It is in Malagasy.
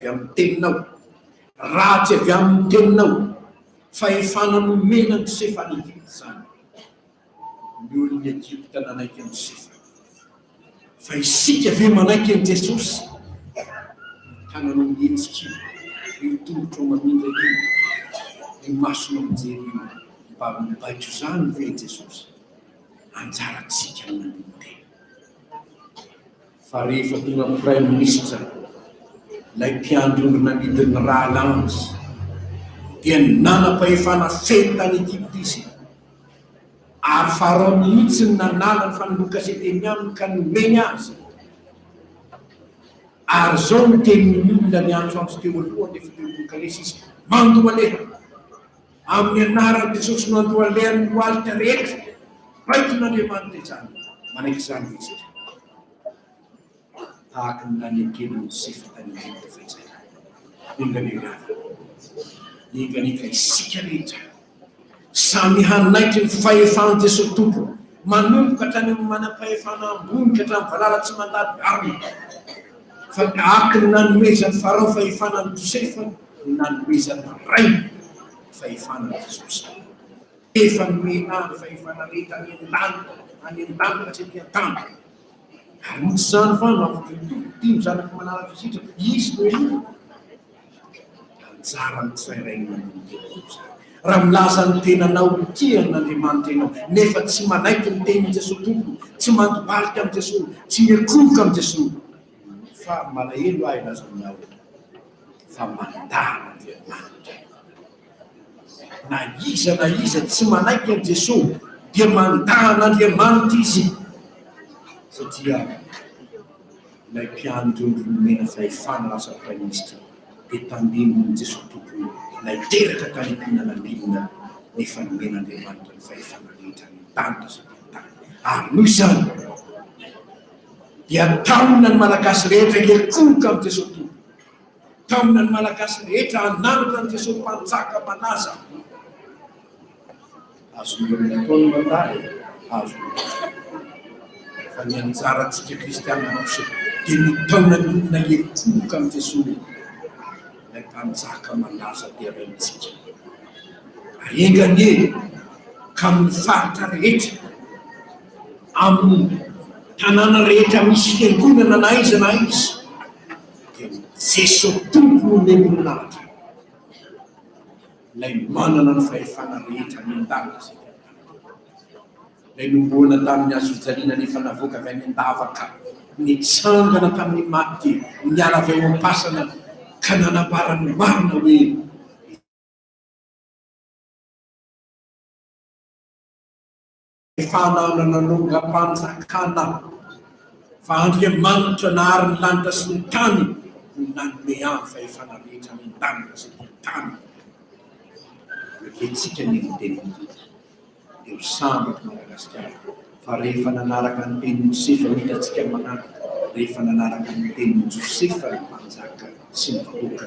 Avy amin'ny Teninao. Raha tsy avy amin'ny Teninao, fahefana nomena ny sefa any Egypta izany. Ny olon'i Egypta nanaiky an'i Josefa. Fa isika ve manaiky an'i Jesosy? Ny tananao mihetsika io, ny tongotrao mamindra io, ny masonao mijery io, mba mibaiko izany ve i Jesosy? Anjarantsika ny manolo-tena. fa rehefa tonga praiminisitra ilay mpiandry ondry nanidy ny rahalahiny dia ny nanam-pahefana feno tany Egypta izy ary Pharaon mihitsy ny nanala ny fanoloan-kasety teny aminy ka nomeny azy ary izao no tenin'ny olona niantso azy teo aloha ny fitorian-kalesy izy mandoa leha Amin'ny anaran'ny Jesosy Mandohalehan'ny lohalika rehetra, baikon'Andriamanitra izany, manaiky izany ve isika? Tahaka ny nanekena an'i Josefa tany Egypta fa izay ihany. Enga-niangavy, niengaenga isika rehetra, samy hanaiky ny fahefan'i Jesosy Tompo, manomboka hatrany amin'ny manam-pahefana ambony ka hatramin'ny valala tsy mandady arina. Fa tahaka ny nanomezan'i Farao fahefana an'i Josefa, ho nanomezana rainy ny fahefana an'i Jesosy. Efa nomena ny fahefana rehetra any an-danitra, any an-danitra sy aty an-tany. Ary noho izany fa nampitohy Tompo dimy zanak'i Manara-vizitra, izy no eo. Anjara ny tsirairay manomboka raha milaza ny tenanao ho tia an'Andriamanitra ianao nefa tsy manaiky ny tenin'i Jesosy Tompo, tsy mandohalika amin'i Jesosy, tsy miankohoka amin'i Jesosy. Fa malahelo ahy laza ny aho. fa mandala Andriamanitra izy. Na iza na iza tsy manaiky an'i Jesoa dia mandà an'Andriamanitra izy satria ilay mpiandry ondry nomena fahefana lasa praiminisitra dia tandindon'i Jesoa Tompo ilay teraka kalipina nambilina nefa nomen'Andriamanitra ny fahefana rehetra any an-danitra sy aty an-tany. Ary noho izany, dia taona ny Malagasy rehetra hiankohoka amin'i Jesoa Tompo, taona ny Malagasy rehetra hananatra an'i Jesoa Mpanjaka Mpanaza. Azon'ireo ny atao ny mandala e, azon'ireo. Fa ny anjarantsika Kristianina kosa dia ny taona ny olona hiankohoka amin'i Jesoa, ilay Mpanjaka Malaza dia rentsika. Ary enga anie ka amin'ny faritra rehetra, amin'ny tanàna rehetra misy fiangonana na aiza na aiza dia Jesoa Tompo no omeny ny lanitra ilay manana ny fahefana rehetra any an-danitra sy ety an-tany ilay nomboana tamin'ny hazofijaliana nefa navoaka avy any an-davaka nitsangana tamin'ny maty niala avy ao am-pasana ka nanambara ny marina hoe Efa nanana longam-panjakana fa Andriamanitra nahary ny lanitra sy ny tany no nanome ahy fa efa nandritra ny lanitra sy ny tany. Ekentsika ny tenin'ny Tompo. Eo samy eto Madagasikara fa rehefa nanaraka ny tenin'i Josefa no hitantsika manaraka, rehefa nanaraka ny tenin'i Josefa ny mpanjaka sy ny vahoaka.